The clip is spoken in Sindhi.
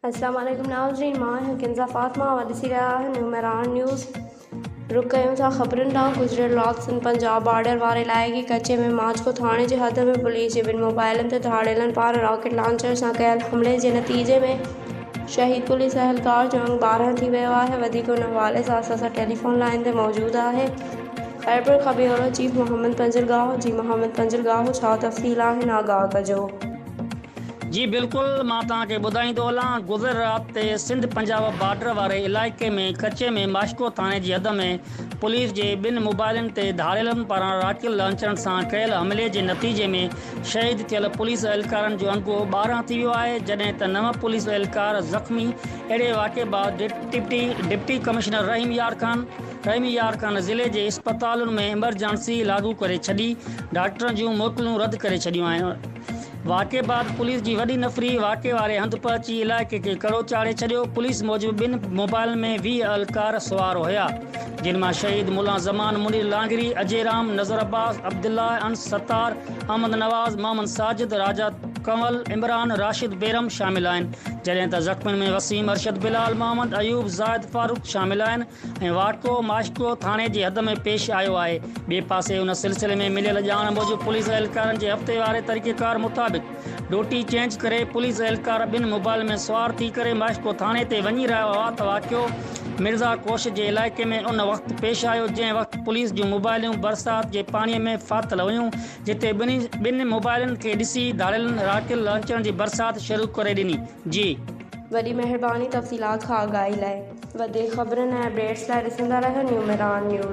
السلام عليڪم ناظرين مان آهيان ڪنزا فاطمه اوهان ڏسي رهيا آهيو نيو مهراڻ نيوز رڪ ڪيون ٿا خبرن ڏانهن گذريل رات سنڌ پنجاب بارڊر واري علائقي ڪچي ۾ ماڇڪو ٿاڻي جي حد ۾ پوليس جي ٻن موبائلن تي ڌاڙيلن پاران راڪيٽ لانچر سان ڪيل حملي جي نتيجي ۾ شهيد پوليس اهلڪار جو انگ ٻارهن ٿي ويو آهي وڌيڪ ان حوالي سان اسان سان ٽيليفون لائين تي موجود آهي خيبر کان ٻيهر چيف محمد پنجرگاهه جي محمد پنجرگاهه ڇا تفصيل آهن آگاهه ڪجو. جي بلڪل مان توهان کي ٻڌائيندو هلان گذريل رات تي سنڌ پنجاب بارڊر واري علائقي ۾ ڪچي ۾ ماشڪو ٿاڻي جي حد ۾ پوليس جي ٻن موبائلن تي ڌاڙيلن پاران راڪيل لانچرن سان ڪيل حملي جي نتيجي ۾ شهيد ٿيل پوليس اهلڪارن جو انگو ٻارهن ٿي ويو آهي جڏهن ته نو پوليس اهلڪار زخمي اهڙي واقعي بعد ڊپٽي ڪمشنر رحيم يار خان خيميار کان ضلعي جي اسپتالن ۾ ايمرجنسي لاڳو ڪري ڇڏي، ڊاڪٽرن جون موڪلون رد ڪري ڇڏيون آهن، واقعي بعد پوليس جي وڏي نفري واقعي واري هنڌ پهچي علائقي کي ڪڙو چاڙهي ڇڏيو، پوليس موجب ٻن موبائلن ۾ ويهه اهلڪار سوار هيا، جن مان شهيد ملا زمان، منير لانگري، اجي رام، نظر عباس، عبدالله، انس ستار، احمد نواز، محمد ساجد، راجا ڪنول، عمران، راشد بيرم شامل آهن، جڏهن ته زخمين ۾ وسيم، ارشد بلال، محمد ايوب، زاهد فاروق شامل آهن، ۽ واهڪو ماشڪو ٿاڻي جي حد ۾ پيش آيو آهي. ٻئي پاسي ان سلسلي ۾ مليل ڄاڻ موجب پوليس اهلڪارن جي هفتي واري طريقيڪار مطابق ڊوٽي چينج ڪري پوليس اهلڪار ٻن موبائل ۾ سوار ٿي ڪري ماشڪو ٿاڻي تي وڃي رهيا هئا ته واقعو مرزا ڪوش جي علائقي ۾ ان وقت پيش آيو جنهن وقت پوليس جون موبائليون برسات جي پاڻي ۾ ڦاٿل هيون جتي ٻنهي موبائلن کي ڏسي ڌاڙيلن راڪيل لانچرن جي برسات شروع ڪري ڏني جي وڏي مهرباني تفصيلات کان آگاهي لاء. وڌيڪ خبرن ۽ اپڊيٽس لاء ڏسندا رهيو نيوميران نيوز.